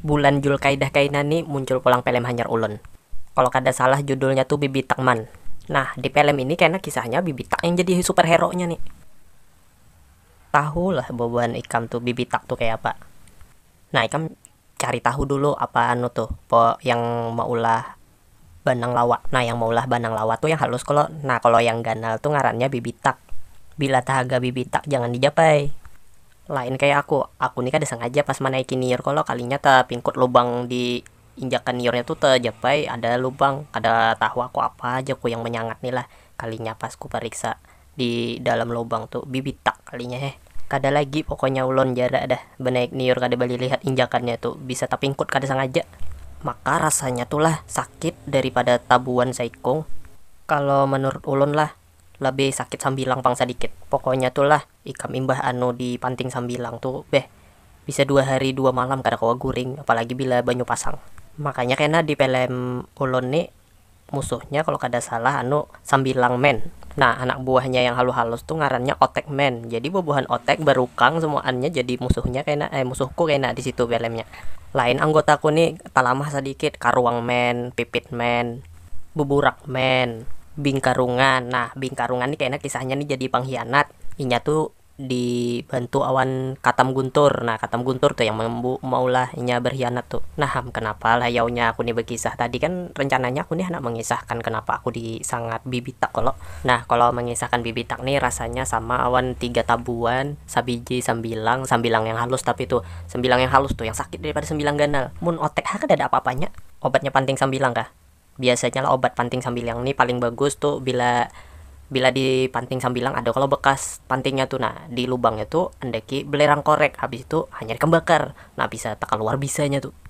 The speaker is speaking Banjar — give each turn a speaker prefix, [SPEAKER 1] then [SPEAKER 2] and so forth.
[SPEAKER 1] Bulan julkaidah kaina ni muncul pulang pelem hanyar ulun. Kalo kada salah judulnya tu bibitak man. Nah di pelem ini kena kisahnya bibitak yang jadi super hero nya ni. Tahu lah bubuhan ikam tu bibitak tu kaya apa. Nah ikam cari tahu dulu apa anu tu yang meulah Banang lawa, nah yang maulah banang lawa tu yang halus kalo, nah kalo yang ganal tu ngarannya bibitak, bila tahaga bibitak jangan dijapai, lain kaya aku, aku ni kada sangaja pas manaiki niur kalo kalinya tapingkut lubang di injakan niurnya tu tajapai ada lubang, kada tahu aku apa haja ku yang manyangat ni lah, kalinya pas ku pariksa. di dalam lubang tu bibitak kalinya he kada lagi pokoknya ulon jara dah banaik niur kada balilihat injakannya tu bisa tapingkut kada sangaja maka rasanya tu lah sakit dari pada tabuan saikung kalo manurut ulun lah labih sakit sambilang pang sadikit pokoknya tu lah ikam imbah anu di panting sambilang tu beh bisa dua hari dua malam kada kawa guring apalagi bila banyu pasang makanya kena di pelem ulun ni musuhnya kalo kada salah anu sambilang men, nah anak buahnya yang halu halus tu ngarannya otek men, jadi bubuhan otek barukang semuaannya jadi musuhnya kena ai musuhku kena disitu filmnya, lain anggotaku ni talamah sadikit karuang men, pipit men, buburak men, bingkarungan nah bingkarungan ni kena kisahnya ni jadi panghianat inya tu di bantu awan katam guntur, nah katam guntur tu yang maulah inya berkhianat tu, nah am kenapa lah yaunya aku ni bekisah, tadi kan rencananya aku ni handak mengisahkan kenapa aku di sangat bibitak kalo, nah kalo mengisahkan bibitak ni rasanya sama awan tiga tabuan sabiji sambilang, sambilang yang halus tapi tu, sambilang yang halus tu yang sakit dari pada sambilang ganal, mun otek ha kadada apa apanya obatnya panting sambilang kah. Biasanya lah obat panting sambilang ni paling bagus tu bila bila di panting sambilang ada kalo bekas pantingnya tu nah di lubangnya tu andaki belerang korek habis tu hanyar ikam bakar nah bisa takaluar bisanya tu.